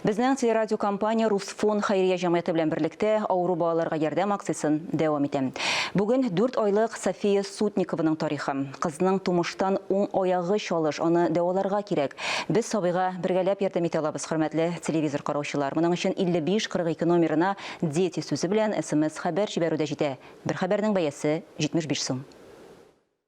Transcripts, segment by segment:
Безнең телерадиокомпания Русфон хәйрия җәмгыяте белән берлектә авыру балаларга ярдәм акциясен дәвам итә. Бүген дүрт айлык София Сутникованың тарихы. Кызның тумыштан уң аягы чалыш, аны дәваларга кирәк. Без сабыйга бергәләп ярдәм итә алабыз, хөрмәтле телевизор караучылар. Моның өчен 5542 номерына Дети сүзе белән смс-хәбәр җибәрү дә җитә. Бер хәбәрнең бәясе 75 сум.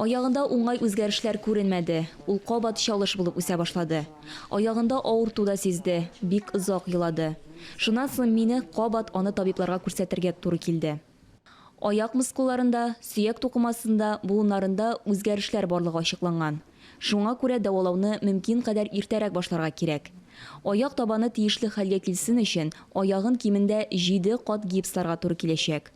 Аягында уңай үзгәрешләр күренмәде, ул кабат чалыш булып үсә башлады. Аягында авырту да сизде, бик озак елады. Шуннан соң мине кабат аны табибларга күрсәтергә туры килде. Аяк мускулларында, сөяк тукымасында, буыннарында үзгәрешләр барлыгы ачыкланган. Шуңа күрә дәвалауны мөмкин кадәр иртәрәк башларга кирәк. Аяк табаны тиешле хәлгә килсен өчен, аягын кимендә җиде кат гипсларга туры киләчәк.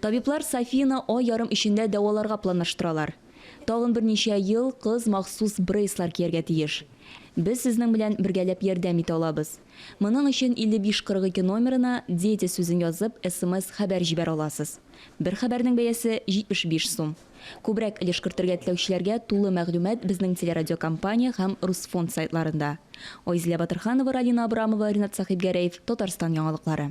Табиблар Софияне ай ярым эчендә дәваларга планлаштыралар. Тагын берничә ел кыз махсус брейслар кияргә тиеш. Без сезнең белән бергәләп ярдәм итә алабыз. Моның өчен 5542 номерына Дети сүзен язып, смс хәбәр җибәрә аласыз. Бер хәбәрнең бәясе 75 сум. Күбрәк өлеш кертергә теләүчеләргә тулы мәгълүмат безнең телерадиокомпания һәм Русфонд сайтларында. Айзилә Батырханова, Ралина Абрамова, Ринат Сәхибгәрәев, Татарстан яңалыклары.